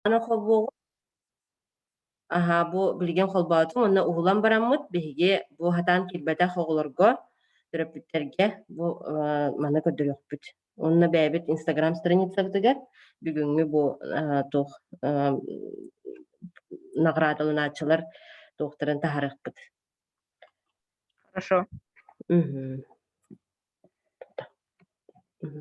Аны холбуоҕум Аһаа, бу билигин холбоотум уонна уһулан бараммыт. Биһиги бу хатаан киирбэтэх оҕолорго, төрөппүттэргэ бу э, маны көрдөрүөхпүт. Уонна бэйэбит Инстаграм страницабытыгар бүгүҥҥү бу э, туох э, наҕараадаланааччылар туохтарын таһарыахпыт. Хорошо. Угу. Угу.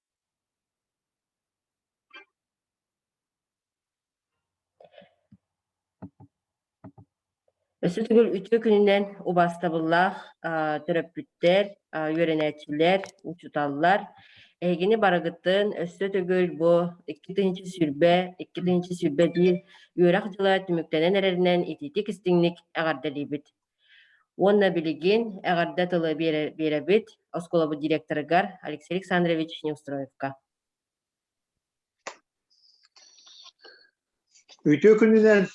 Өссө төгүл үтүө күнүнэн убаастабыллаах төрөппүттэр, үөрэнээччилэр, учууталлар, эһигини барыгытын өссө төгүл бу икки тыһыынча сүүрбэ, икки тыһыынча сүүрбэ биир үөрэх дьыла түмүктэнэн эрэринэн итиитик-истиҥник эҕэрдэлиибит! Уонна билигин эҕэрдэ тылы биэрэбит оскуолабыт директорыгар Алексей Александрович Неустроевка. Үтүө күнүнэн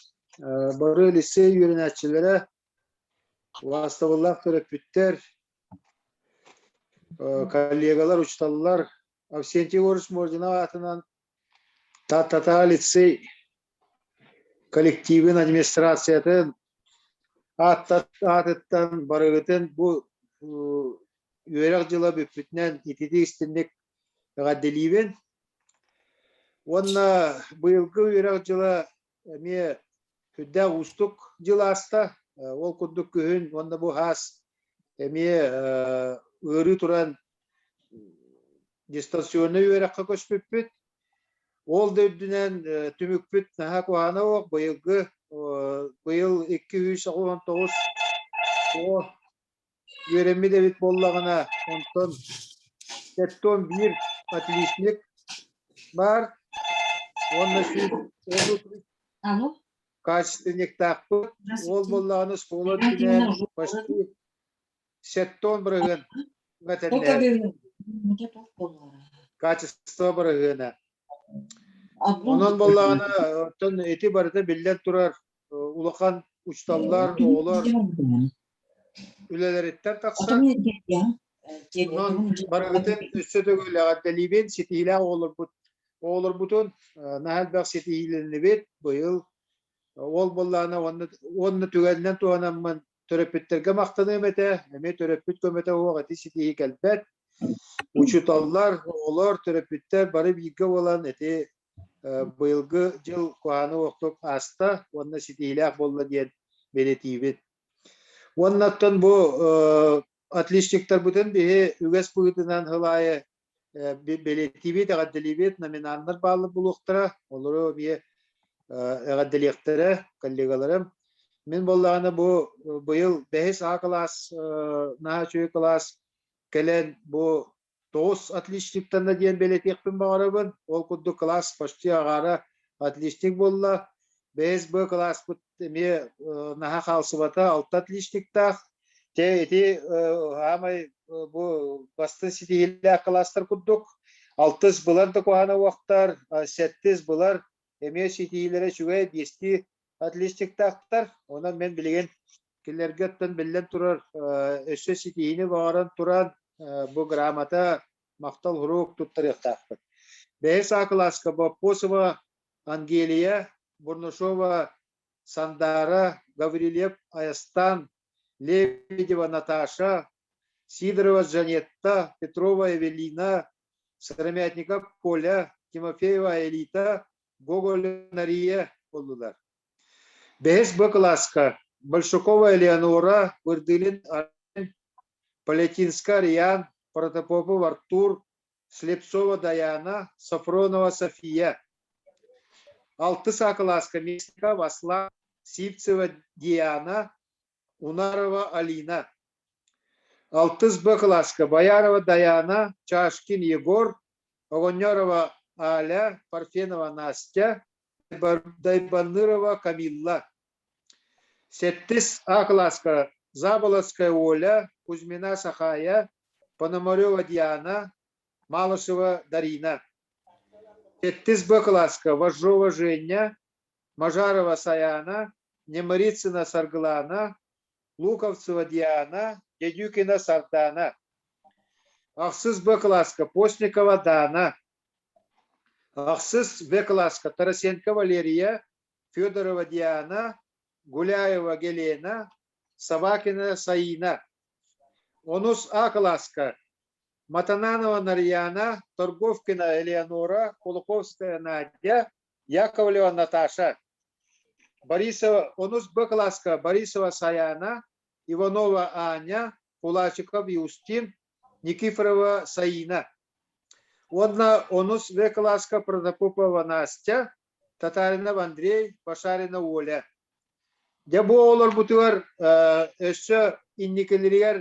бары лиссей үөрэнээччилэрэ, лаастабыллаах төрөппүттэр, коллегалар, учууталлар Авсентий Егорович Мордина аатынан Таттата лицей коллективын администрациятын аатыттан барыгытын бу үөрэх дьыла бүппүтүнэн ититик-истинник эҕэрдэлиибин уонна быйылгы үөрэх дьыла эмиэ күрдээх уустук дьыл ааста. Ол курдук күһүн уонна бу һаас эмиэ ыарыы туран дистанционнай үөрэххэ көспүппүт. Ол да үрдүнэн түмүкпүт наһаа куһаана оох быйылгы быйыл 219 үөрэммит эбит буоллаҕына, онтон сэттэ уон биир отличник баар уонна сүүс отут Алло, качественниктаахпыт. Уол буоллаҕына суола өттүнэн почти сэттэ он бырыһыан тока мэтэннээр дыылын. Мута тоқ боллара. качество бырыһыана. Аброн Онон буоллаҕына оттон ити барыта биллэн турар улахан учталлар оҕолор үлэлэриттэн тахсан онон барыгытын өссө төгүллэҕэ дэлиибин ситиһиилээх оҕолорбут оҕолорбутун наһаа элбэх ситиһиилэннибит быйыл ол буоллаана уонна түгэнинэн туһанаммын төрөппүттэргэ махтаныам этэ эмиэ төрөппүт көмөтө оһох эти ситиһии кэлбэт учуталлар оҕолор төрөппүттэр бары бииргэ буолан эти быйылгы дьыл куһааны уохтук ааста уонна ситиһиилээх буолла диэн бэлэтиибин. Уонна оттон бу отличниктарбытын биһи үгэс быһыытынан хыл аайы бэлэтиибит, эҕэрдэлиибит, номинаннар бааллар булуохтара, олору эмиэ эҕэрдэлиэхтэрэ коллегаларым. Мин боллаҕына бу быйыл бэһис А кылаас, наһаа үчүгэй кылаас кэлэн бу Тоҕус отличниктанна диэн бэлэтиэхпин баҕарабын. Ол курдук класс почти агаара отличник буолла. БСБ кылааспыт эмиэ наһаа хаалсыбата алта отличниктаах. Те ити саамай бу бастын ситиһиилээх кылаастар курдук. Алтыс былан да куһана уохтар, сэттис былар эмиэ ситиһиилэрэ үчүгэй, биэсти Отличниктаахтар. Онон мен билигин кинилэргэ оттон биллэн турар өссө ситиһиини баҕаран туран бу грамота махтал уруок туттарыахтаахпыт. Бэһи саакылааска Боппосова Ангелия, Бурнушова Сандара, Гаврильев Аястан, Лебедева Наташа, Сидорова Жанетта, Петрова Эвелина, Сыромятников Коля, Тимофеева Элита, Гоголянария буоллулар. Бэһис Б кылааска Большакова Элеонора Бырдылин Палетинска Риан, Протопопов Артур, Слепцова Даяна, Софронова София. Алты саа кылааска Местников Аслан, Сивцева Диана, Унарова Алина, алтыс Б кылааска Боярова Даяна, Чашкин Егор, Огонерова Аля, Парфенова Настя, Дайбанырова Камилла. Сэттис А кылааска Заболоцкая Оля, Кузьмина Сахая, Пономарева Диана, Малышева Дарина. Сэттис Б кылааска Вожжова Женя, Мажарова Сайаана, Немырицына Саргылаана, Луковцева Диана, Дедюкина Сардаана, ахсыс Б класска Постникова Дана, ахсыс В класска Тарасенко Валерия, Федорова Диана, Гуляева Гелена, Собакина Саина. Онус А класска Матананова Нарьяна, Торговкина Элеонора, Кулаковская Надя, Яковлева Наташа, Борисова, Онусба Класка, Борисова Саяна, Иванова Аня, Кулачиков Иустин, Никифорова Саина. Уонна Онус В Класка Протопопова Настя, Татаринов Андрей, Пашарина Оля. Дьэ бу олорбутугар өссө инникилэригэр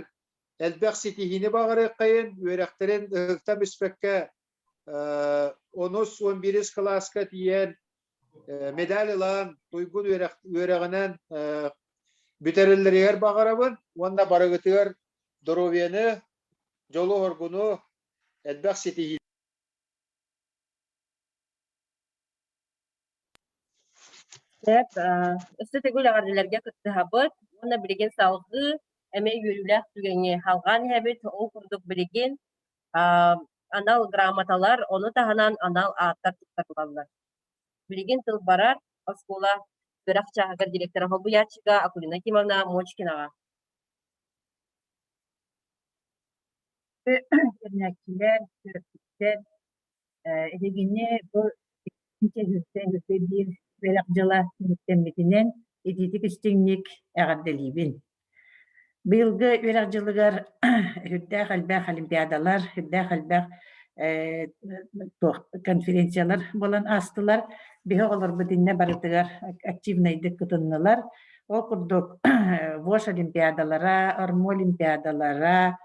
элбэх ситиһиини баҕарыаххайын, үөрэхтэрин ытыктан испэккэ онус уон биирис кылааска тиийэн медаль ылан туйгун үөрэҕинэн бүтэрэллэригэр баҕарабын уонна барыгытыгар доруобуйаны дьолу хоргуну элбэх ситиһиилэри Сөп, аа, өссө төгүл эҕэрдэлэргэ кыттыһабыт уонна билигин салгыы эмиэ үөрүүлээх түгэҥҥи халҕаан иһэбит ол курдук билигин аа, анал грамоталар, ону таһынан анал ааттар туттарыллаллар. Билигин тыл барар оскуола үөрэх чааһыгар директора солбуйааччыга Акулина Кимовна Мочкинаҕа. Үөрэнээччилэр, төрөппүттэр Эһигини бу биир бэлэх дьыла түмүктэммитинэн итиитик-истиҥник эҕэрдэлиибин. Быйылгы үөрэх дьылыгар үрдээх элбэх олимпиадалар, үрдээх элбэх конференциялар буолан аастылар. Биһи оҕолорбут иннэ барытыгар активнайдык кытыннылар. Ол курдук ВОШ олимпиадалара, РМО олимпиадалара,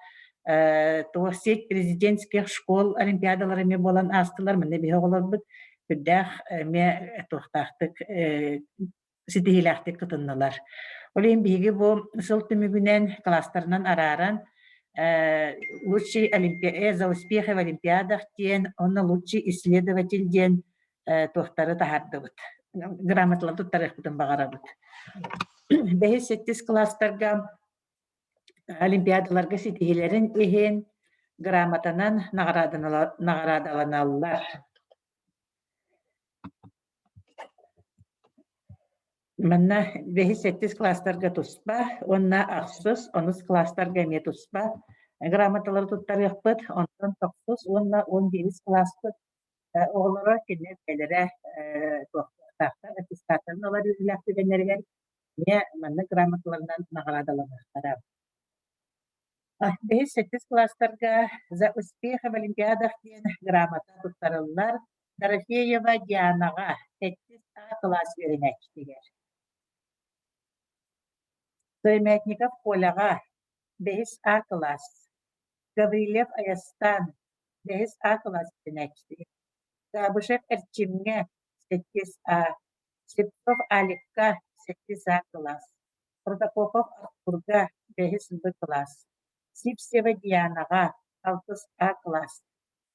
Туоссеть президентских школ олимпиадалара эмиэ буолан аастылар. Манна биһи оҕолорбут үрдээх эмиэ туохтаахтык ситиһиилээхтик тутуннулар. Ол иһин биһиги бу сыл түмүгүнэн класстарынан арааран лучший олимпия за успехи в олимпиадах диэн уонна лучший исследователь диэн туохтары таһаардыбыт. Грамоталар туттарыахпытын баҕарабыт. Бэһис-сэттис класстарга олимпиадаларга ситиһилэрин иһин грамотанан наҕараадаланаллар. Манна бэһис-сэттис класстарга туспа уонна ахсыс, онус класстарга эмиэ туспа грамоталары туттарыахпыт. Онтон тохсус уонна он биэс класспыт оҕолоро кинилэр бэлэрэ туохтаахтар аттестаттарын ылар үөрүүлээх түгэннэригэр Ийэ манна грамоталарынан наҕараадаланыахтара. Бэһис-сэттис класстарга «За успех в Олимпиадах» диэн грамота туттарыллар. Дорофеева Дианаҕа сэттис А кылаас үөрэнээччитигэр. Стоимятников Коляҕа бэһис А кылаас. Гаврильев Айастан бэһис А кылаас үөрэнээччитэ. Габышев Эрчимҥэ сэттис А. Слепцов Аликка, сэттис А кылаас, Протопопов Артурга, бэһис Б кылаас, Сивцева Дианаҕа, алтыс А кылаас,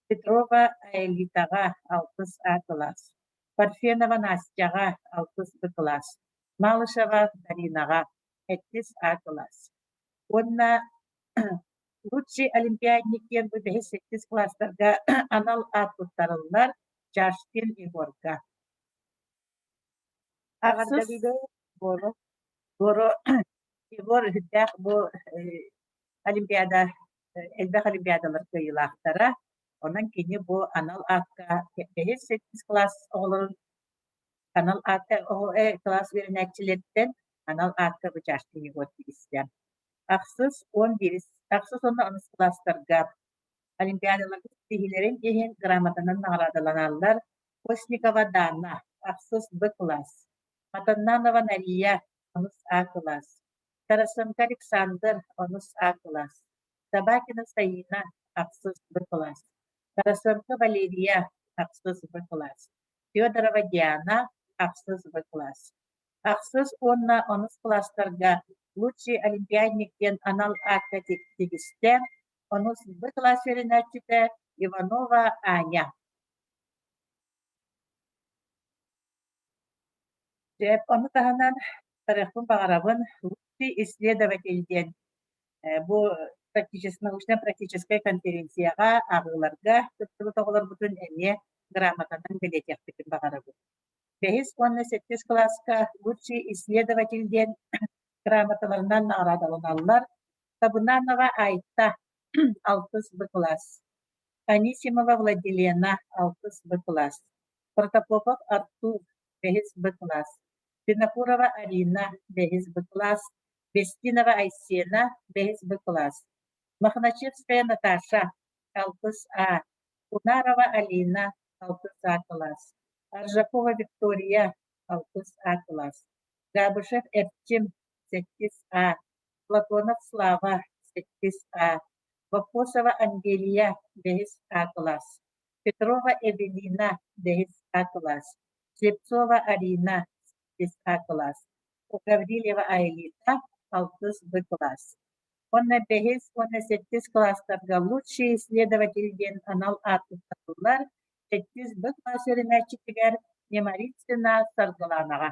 Петрова Аэлитаҕа, алтыс А кылаас, Парфенова Настяҕа, алтыс Б кылаас, Малышева Даринаҕа, эттис А кылаас. Уонна лучший олимпиадник диэн бу бэһис-сэттис класстарга анал аат туттарыллар Чашкин Егорга. Тахсыс. Буолуо. Буору Егор үрдээх бу э, Олимпиада э, элбэх олимпиадалар кыайыылаахтара. Онон кини бу анал аатка бэһис сэттис класс оҕолорун анал аатка э, класс үөрэнээччилэриттэн анал аатка бычааччыны вот истэ. Ахсыс он бирис, ахсыс онно аныс класстарга олимпиадалар киһилэрин иһин грамотанан наҕараадаланаллар, Постникова Даана, ахсыс Б кылаас, Матаннанова Нария, онус А кылаас, Тарасенко Александр, онус А кылаас, Табакина Саина, ахсыс Б кылаас, Тарасенко Валерия, ахсыс Б кылаас, Федорова Диана, ахсыс Б кылаас, ахсыс уонна онус кылаастарга Лучший олимпиадник диэн анал аакка тигистээн, онус Б кылаас үөрэнээччитэ Иванова Аня, Дьэ, ону таһынан барыахпын баҕарабын лучший исследователь диэн э, бу научнай-практическай конференцияҕа ааҕыыларга кыттыбыт оҕолорбутун эмиэ грамотанан бэлиэтиэхпитин баҕарабын. Бэһис уонна сэттис кылааска лучший исследователь диэн грамоталарынан наҕараадаланаллар. Табунанова Айта, алтыс б кылаас. Анисимова Владилена, алтыс бэ кылаас, Протопопов Артур, бэһис бэ кылаас, Пинокурова Арина, бэһис бэ кылаас, Бестинова Айсена, бэһис бэ кылаас, Мохначевская Наташа, алтыс А, Унарова Алина, алтыс А кылаас, Аржакова Виктория, алтыс А кылаас, Габышев Эрчим, сэттис А, Платонов Слава, сэттис А, Вопросова Англия, бэһис А кылаас, Петрова Эвелина, бэһис А кылаас, Слепцова Арина, сэттис А кылаас, у Гаврильева Аэлита, алтыс Б кылаас. Уонна бэһис уонна сэттис кылаастарга лучший исследователь диэн анал ааттаттылар, сэттис Б кылаас үөрэнээччитигэр Немарицына Саргылаанаҕа.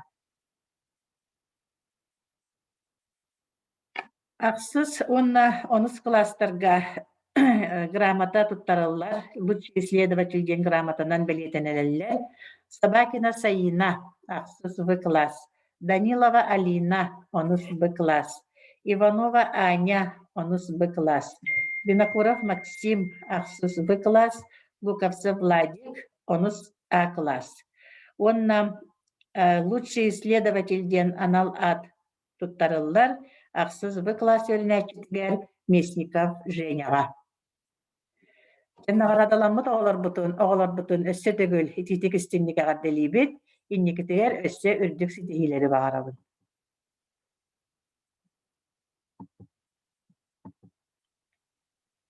Ахсыс уонна онус кылаастарга грамота туттарыллар, лучший исследователь диэн грамотанан бэлиэтэнэллэр. Собакина Саина, ахсыс В класс. Данилова Алина, онус Б класс. Иванова Аня, онус Б класс. Винокуров Максим, ахсыс В класс. Гуковцев Владик, онус А-класс. Уонна «Лучший исследователь» диэн анал аат туттарыллар ахсыс бы класс үөрэнээччитигэр Местников Женяҕа. Наҕараадаламмыт оҕолорбутун, оҕолорбутун өссө төгүл итиитик истинник эҕэрдэлиибит. Инникитигэр өссө үрдүк ситиһиилэри баҕарабын.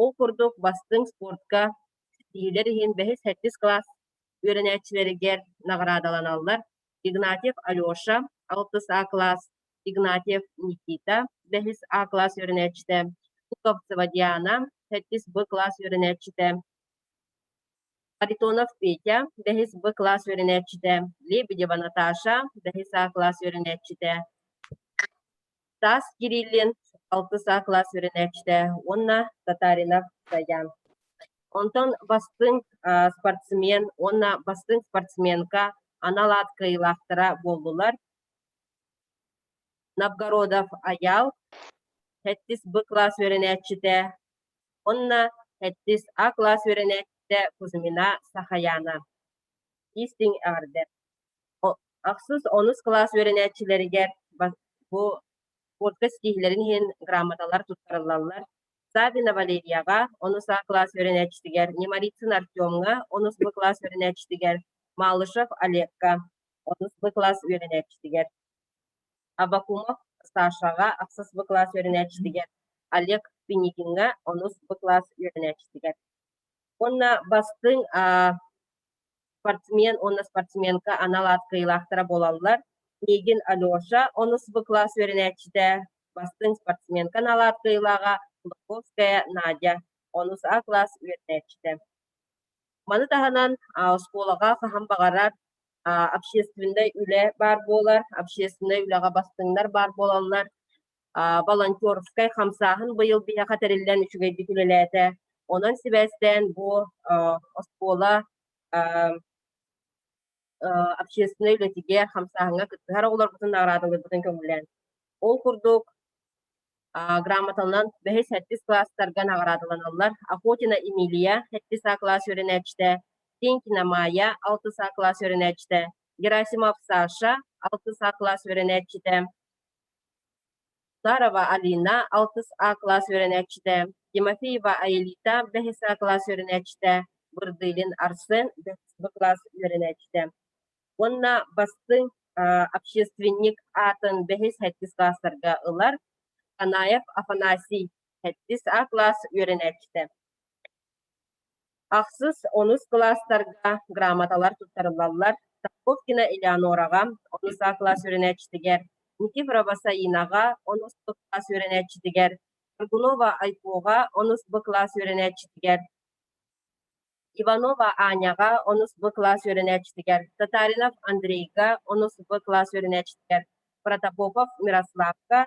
Ол курдук бастыҥ спортка ситиһиилэр иһин бэһис-сэттис кылаас үөрэнээччилэригэр наҕараадаланаллар Игнатьев Алеша, алтыс А кылаас, Игнатьев Никита, бэһис А кылаас үөрэнээччитэ, Пуковцева Диана, сэттис Б кылаас үөрэнээччитэ, Харитонов Петя, бэһис Б кылаас үөрэнээччитэ, Лебедева Наташа, бэһис А кылаас үөрэнээччитэ, Таас Кириллин алтыса кылаас үөрэнээччитэ уонна Татаринов Даян. Онтон бастыҥ спортсмен уонна бастыҥ спортсменка анал аат кыайыылаахтара буоллулар. Новгородов Аял, Хэттис Б кылаас үөрэнээччитэ уонна Хэттис А кылаас үөрэнээччитэ Кузьмина Сахаяна. Истиҥ эҕэрдэ! ахсыс онус кылаас үөрэнээччилэригэр бу куртка ситиһиилэрин иһин грамоталар туттарыллаллар савина валерияҕа онус а кылаас үөрэнээччитигэр немарицын артемҥа онус б кылаас үөрэнээччитигэр малышев олегка онус б кылаас үөрэнээччитигэр абакумов сашаҕа ахсыс б кылаас үөрэнээччитигэр олег пеникиҥҥа онус б кылаас үөрэнээччитигэр уонна бастыҥ спортсмен уонна спортсменка анал аат кыайыылаахтара буолаллар. Миигин Алеша, онус бу класс үөрэнээччитэ, бастыҥ спортсменка анаалаат кыайыылааҕа Кулаковская Надя, онус А класс үөрэнээччитэ. Маны таһынан оскуолаҕа хаһан баҕарар общественнай үлэ баар буолар, общественнай үлэҕэ бастыҥнар баар буолаллар. волонтерскай хамсааһын быйыл биһиэхэ тэриллэн үчүгэйдик үлэлээтэ. Онон сибээстээн бу оскуола общественнай үлэтигэр, хамсааһыҥҥа кыттыһар оҕолорбутун наҕараадалыырбытын көҥүллээн. Ол курдук, грамотанан бэһис сэттис класстарга наҕараадаланаллар. Охотина Эмилия сэттис А класс үөрэнээччитэ, Тенькина Майя алтыс А класс үөрэнээччитэ, Герасимов Саша алтыс А класс үөрэнээччитэ, Сарова Алина, алтыс А кылаас үөрэнээччитэ, Тимофеева Аэлита, бэһис А кылаас үөрэнээччитэ, Бырдылин Арсен, бэһис Б кылаас үөрэнээччитэ уонна бастыҥ общественник аатын бэһис һэттис кылаастарга ылар Канаев Афанасий, һэттис А кылаас үөрэнээччитэ Ахсыс онус кылаастарга грамоталар туттарыллаллар Таковкина Элеонораҕа, онус А кылаас үөрэнээччитигэр, Никифорова Басаинаҕа, онус Б кылаас үөрэнээччитигэр, Горбунова Айкоҕа, онус Б кылаас үөрэнээччитигэр, Иванова Аняҕа, онус Б кылаас үөрэнээччитигэр, Татаринов Андрейга, онус Б кылаас үөрэнээччитигэр, Протопопов Мирославка,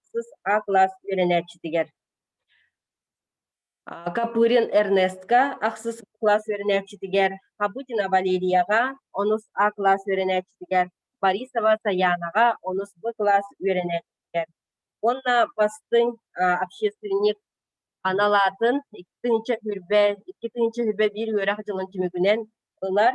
сыс А кылаас үөрэнээччитигэр. Копырин Эрнестка ахсыс кылаас үөрэнээччитигэр, Хабутина Валерияҕа онус А кылаас үөрэнээччитигэр, Борисова Саянаҕа онус Б кылаас үөрэнээччитигэр уонна бастыҥ общественник анал аатын икки тыһыынча сүүрбэ, икки тыһыынча сүүрбэ биир үөрэх дьылын түмүгүнэн ылар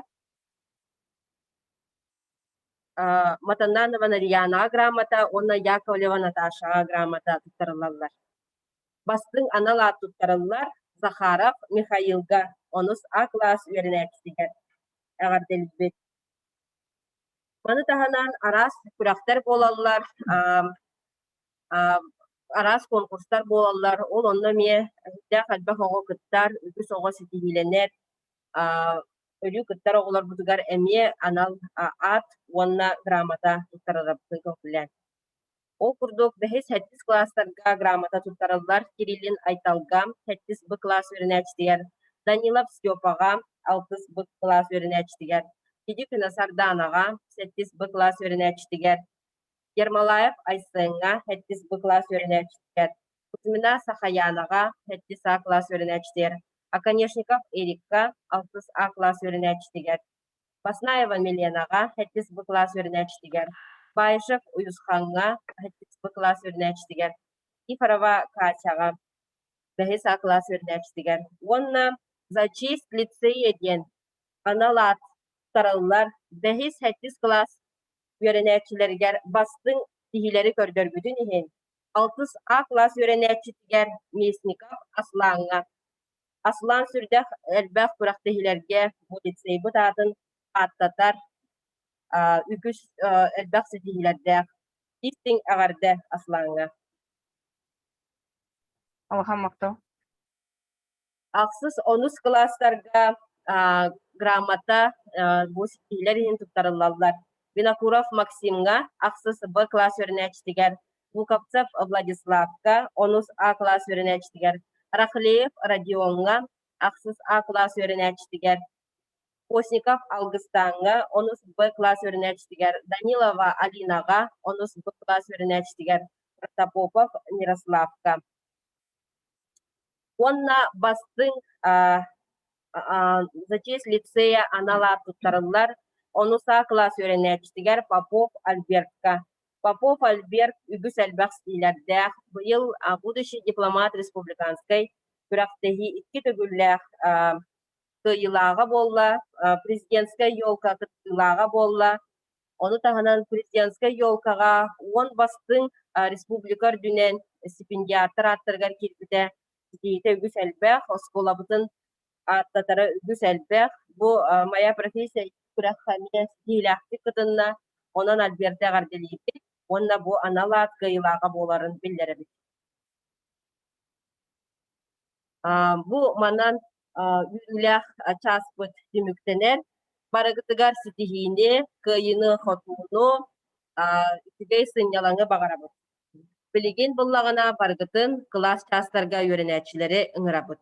Матаннанова Нариянаҕа грамота уонна Яковлева Наташаҕа грамота туттарыллаллар. Бастыҥ анал аат туттарыллар Захаров Михаилга онус А-кылаас үөрэнээччитигэр эҕэрдэлиибит. Маны таһынан араас күрэхтэр буолаллар, араас конкурстар буолаллар. Ол онно эмиэ эрдээх элбэх оҕо кыттар, үгүс оҕо ситиһиилэнэр. өлүү кыттар оҕолорбутугар эмиэ анал аат уонна грамота туттарарбытын көҥкүлээн. Ол курдук бэһис сэттис класстарга грамота туттарыллар Кириллин Айталга, сэттис б класс үөрэнээччитигэр Данилов Степаҕа, алтыс б класс үөрэнээччитигэр Киди Күнасардаанаҕа, сэттис б класс үөрэнээччитигэр Ермолаев Айсыҥҥа, сэттис б класс үөрэнээччитигэр Кузьмина Сахаянаҕа сэттис А кылаас үөрэнээччитигэр, Оконешников Эрикка алтыс А кылаас үөрэнээччитигэр, Баснаева Миленаҕа сэттис Б кылаас үөрэнээччитигэр, Баишев Уйусхаҥҥа сэттис Б кылаас үөрэнээччитигэр, Ифрова Катяҕа бэһис А кылаас үөрэнээччитигэр уонна Зачист лицее диэн анал аат тарыллар бэһис-сэттис кылаас үөрэнээччилэригэр бастыҥ сиһилэри көрдөрбүтүн иһин алтыс А кылаас үөрэнээччитигэр Местников Аслааҥҥа, Аслаан сүрдээх элбэх күрэхтэһиилэргэ милицейбыт аатын ааттатар үгүс элбэх ситиһиилэрдээх истиҥ эҕэрдэ Аслааҥҥа. Алахан махтал Ахсыс онус кылаастарга а, грамота а, бу ситиилэр иһин туттарыллаллар. Винокуров Максимҥа ахсыс Б класс үөрэнээччитигэр, Луковцев Владиславка онус А класс үөрэнээччитигэр, Рахлеев Родионҥа ахсыс А класс үөрэнээччитигэр, Постников Алгыстааҥҥа онус Б класс үөрэнээччитигэр, Данилова Алинаҕа онус Б класс үөрэнээччитигэр, Протопопов Мирославка уонна бастыҥ за честь лицея анал аат туттарыллар ону саа кылаас үөрэнээччитигэр попов альбертка попов альберт үгүс элбэх стилярдаах быйыл будущий дипломат республиканскай күрэхтэһии икки төгүллээх кыайыылааҕа буолла президентскэй елка кыттыылааҕа буолла Ону таһынан президентскай елкаҕа уон бастыҥ республика үрдүнэн стипендиаттар ааттарыгар киирбитэ ситиһиитэ үгүс элбэх, оскуолабытын ааттатара үгүс элбэх. Бу моя профессия күрэххэ эмиэ ситиһиилээхтик кытынна. Онон Альберта эҕэрдэлиибит уонна бу анал аат кыайыылааҕа буоларын биллэрэбит. Бу манан үөрүүлээх чааспыт түмүктэнэр. Барыгытыгар ситиһиини, кыайыыны-хотууну, үчүгэй сынньалаҥы баҕарабыт. Билигин буллаҕына барыгытын кылаас чаастарга үөрэнээччилэри ыҥырабыт.